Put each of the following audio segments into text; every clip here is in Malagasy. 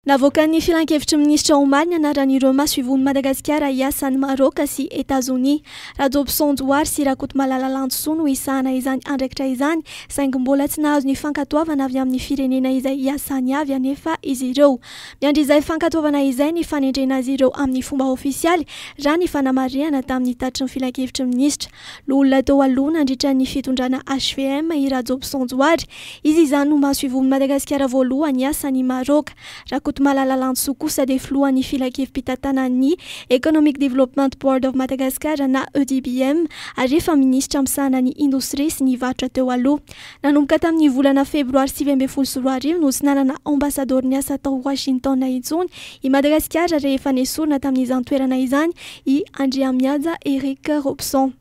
Navoakan'ny Filankevitry ny Minisitra omaly ny anaran'ireo masoivohon'i Madagasikara hiasa any Maraoka sy Etazonia. Rajobison Johary sy Rakotomalala Lantosoa no hisahana izany andraikitra izany saingy mbola tsy nahazo ny fankatoavana avy amin'ny firenena izay hiasany avy anefa izy ireo. Miandry izay fankatoavana izay ny fanendrena azy ireo amin'ny fomba ofisialy, raha ny fanamarihana tamin'ny tatitry ny Filankevitry ny Minisitra. Loholona teo aloha nandritra ny fitondrana HVM i Rajobson Johary. Izy izany no maso ivon'ny Madagasikara voalohany hiasa any Maroc. Rakotomalala Lantsoa kosa dia filohan'ny filankevi-pitantanan'ny Economic Development Board of Madagascar na EDBM ary efa minisitra misahana ny indostria sy ny varotra teo aloha. Nanomboka tamin'ny volana febroary sivy ambin'ny folo sy roa arivo no tsy nanana Ambasadaoro niasa tao Washington intsony i Madagasikara rehefa nesorina tamin'izany toerana izany i Andriamihaja Eric Robson.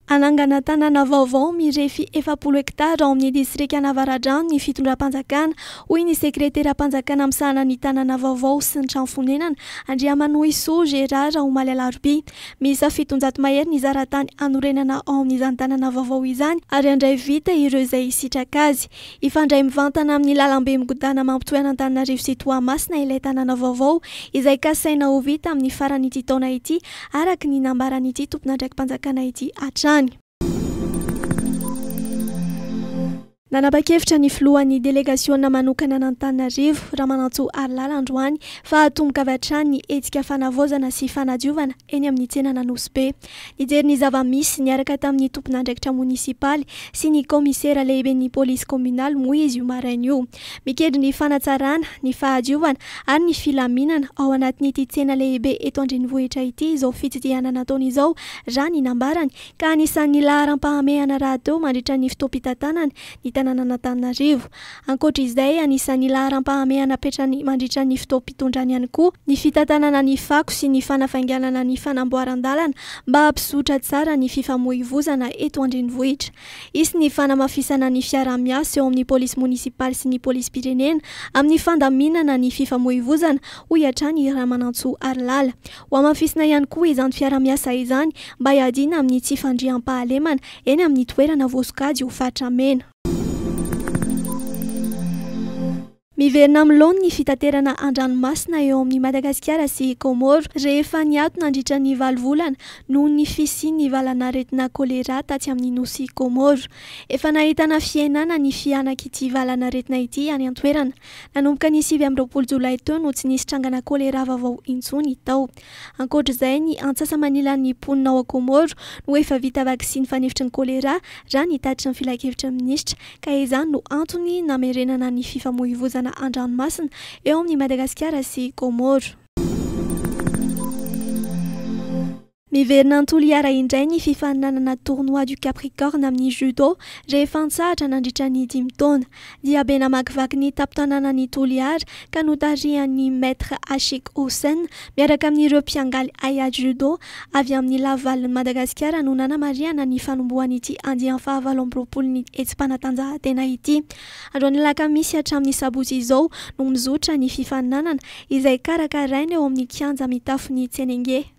Hanangana tanàna vaovao mirefy efapolo hektara ao amin'ny distrikan'Avaradrano ny fitondram-panjakana, hoy ny sekreteram-panjakana misahana ny tanàna vaovao sy ny trano fonenana, Andriamanohisoa Gérard, omaly alarobia. Miisa fitonjato mahery ny zaratany hanorenana ao amin'izany tanàna vaovao izany ary handray vita ireo izay hisitraka azy. Hifandray mivantana amin'ny lalambe migodàna mampitohy an'Antananarivo sy Toamasina ilay tanàna vaovao izay kasaina ho vita amin'ny faran'ity taona ity araka ny nambaran'ity tompon'andraiki-panjakana ity hatrany. Nanapa-kevitra ny filohan'ny delegasiona manokana an'Antananarivo, Ramanantsoa Harilala androany fa hatomboka avy hatrany ny hetsika fanavaozana sy fanadiovana eny amin'ny tsenan'Anosibe. Nijery ny zava-misy niaraka tamin'ny tompon'andraikitra monisipaly sy ny kaomisera lehiben'ny polisy kaominaly moa izy io maraina io, mikedry ny fanatsarana, ny fahadiovana ary ny filaminana ao anatin'ity tsena lehibe eto an-drenivohitra ity izao fitsidihana nataony izao, raha ny nambarany ka anisan'ny laharam-pahamehana rahateo mandritra ny fotoam-pitantanany ny tanànan'Antananarivo. Ankoatra izay, anisan'ny laharam-pahamehana apetrany mandritra ny fotoam-pitondrany ihany koa ny fitantanana ny fako sy ny fanafainganana ny fanamboaran-dalana mba hampizotra tsara ny fifamoivozana eto an-drenivohitra. Hisy ny fanamafisana ny fiaraha-miasa eo amin'ny polisy monisipaly sy ny polisim-pirenena amin'ny fandaminana ny fifamoivozana, hoy hatrany i Ramanantsoa Harilala. Hohamafisina ihany koa izany fiaraha-miasa izany mba hiadiana amin'ny tsy fandriampahalemana eny amin'ny toerana voasokajy ho faritra mena. Miverina amin'ny laoniny ny fitaterana an-dranomasina eo amin'i Madagasikara sy i Kaomoro rehefa niato nandritra ny valo volana noho ny fisian'ny valan'aretina Kolera tatsy amin'ny nosy Kaomoro. Efa nahitana fihenana ny fihanak'ity valan'aretina ity any an-toerana. Nanomboka ny sivy amby roapolo jolay teo no tsy nisy trangana choléra vaovao intsony tao. Ankoatra izay, ny antsasa-manilan'ny mponina ao Comores no efa vita vaksiny fanefitry ny choléra raha ny tatitry ny filankevitry ny minisitra, ka izany no antony namerenana ny fifamoivozana an-dranomasina eo amin'i Madagasikara sy Comores. Miverina an-Toliara indray ny fifaninanana Tournoi du Capricorne amin'ny Judo rehefa an-tsahatra nandritra ny dimy taona. Diabe namakivaky ny tampon-tanànan'i Toliara ka notarihan'ny Maître Ashik Hossein miaraka amin'ireo mpiangaly haiady Judo avy amin'ny lavivalin'i Madagasikara no nanamarihana ny fanombohan'ity andiany fahavalo amby roapolon'ny hetsi-panatanjahantena ity. Androany alakamisy hatramin'ny sabotsy izao no mizotra ny fifaninanana izay karakaraina eo amin'ny kianja mitafon'i Tsenengue.